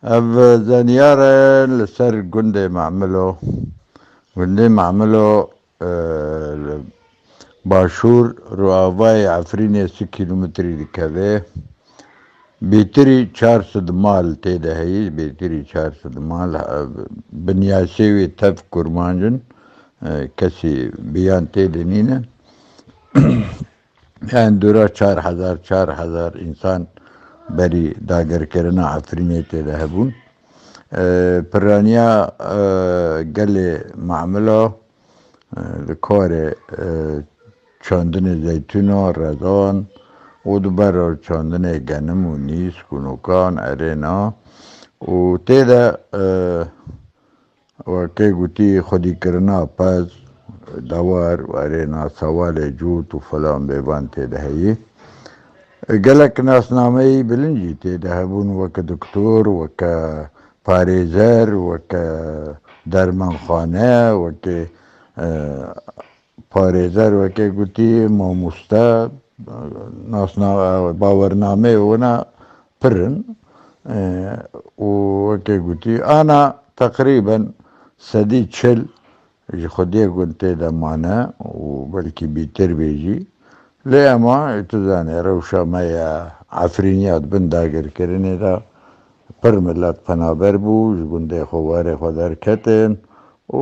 Ev zenyar e li ser gundê Memilo. Gundê Memilo li başûr rûavayê Efrînê si kîlometrî dikeve. Bêtirî çar sid mal tê de heyî, bêtirî çar sid mal. Binyasê wê tev kurmanc in. Kesî biyan tê de nîne. Hindura çar hezar çar hezar însan berî dagirkirina Efrînê têde hebûn. Pirraniya gelê Mamilo li karê çandinê zeytûna, redan û di ber re çandinê genim û nîsk û nokan, erêna û têde Weke gotî xwedîkirina pez, dewar, werêna sewalê cût û filan bê van tê de heyî. Gelek nasnameyî bilind jî tê de hebûn weke doktor, weke parêzer, weke dermanxane, weke Parêzer weke gotî mamoste nasna bawernameyê wina pir in û weke gotî ana teqrîben sedî çil ji xwediyê gund têde mane û belkî bîtir bê jî lê ema tu zanî rewşa me ya Efrîn ya di bin dagirkirinê de pir milet penaber bû ji gundê xwe warê xwe derketin û